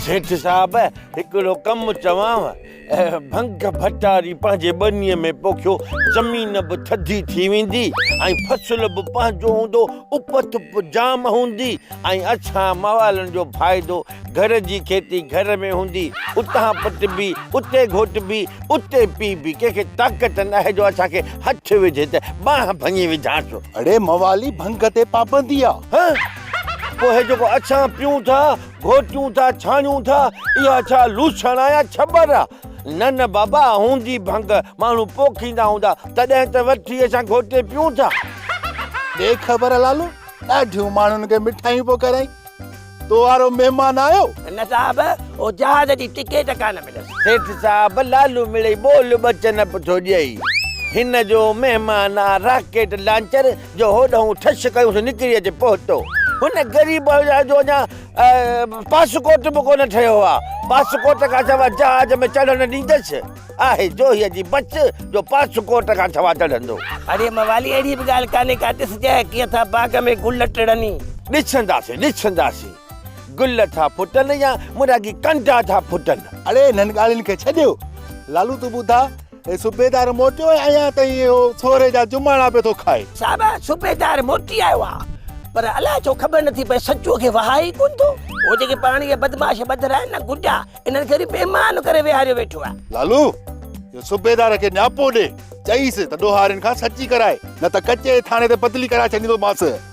سيٺ صاحب هڪڙو ڪم چوانء. ڀنگ ڀٽاري پنهنجي ٻنيء ۾ پوکيو، زمين به ٿڌي ٿي ويندي ۽ فصل به پنهنجو هوندو، اپت به جام هوندي ۽ اسان موالن جو فائدو، گهر جي کيتي گهر ۾ هوندي، اتان پٽبي، اتي گهوٽبي، اتي پيئبي، ڪنهن کي طاقت ناهي جو اسان کي هٿ وجهي ته ٻانهن ڀڃي وجهانس. اڙي موالي ڀنگ تي پابندي آ. هه! پوء هي جيڪو اسان پيئون ٿا، گهوٽيون ٿا ڇاڻيون ٿا، اها ڇا لوسڻ آ يا ڇٻر آ؟ نه نه بابا هوندي ڀنگ، ماڻهو پوکيندا هوندا تڏهن ته وٺي اسان گهوٽي پيئون ٿا. ڏي خبر لالو، ڏاڍيون ماڻهن کي مٺايون پيو کارائين، تو وارو مهمان آيو؟ نه صاحب، اهو جهاز جي ٽڪيٽ ڪانه مليس. سيٺ صاحب لالو مڙئي ٻول ٻچ نه پيو ٿو ڏئي، هن جو مهمان آ راڪيٽ لانچر. جو هوڏانهن ٺش ڪيون سو نڪري اچي پهتو. هن غريب جو اڃا پاسڪوٽ به ڪونه ٺهيو آ. پاسڪوٽ کان سواء جهاز ۾ چڙهڻ نه ڏيندس. آهي جوهيء جي بچ جو پاسڪوٽ کان سواء چڙهندو. اڙي موالي اهڙي به ڳالهه ڪانهي ڪا ڏس جنهن ڪيئن ٿا باغ ۾ گل ٽڙني. ڏسنداسين ڏسنداسين گل ٿا ڦٽن يا مرهاڳي ڪنڊا ٿا ڦٽن. اڙي انهن ڳالهين کي ڇڏيو لالو تون ٻڌاء. اي صوبيدار موٽيو آهي اڃا تائين اهو ٿوري جا جماڻا پيو ٿو کائي. صاحب صوبيدار موٽي آيو آ پر الاء ڇو خبر نٿي پئي سچوء کي وهائي ئي ڪونه ٿو. هو جيڪي پاڻ اهي بدمعاش ٻڌر آهن نه گڊا انهن کي وري مهمان ڪري ويهاريو ويٺو آ. لالو اهو صوبيدار کي نياپو ڏي چئيس ته ڏوهارين کان سچي ڪرائي نه ته ڪچي ٿاڻي تي بدلي ڪرائي ڇڏيندومانس.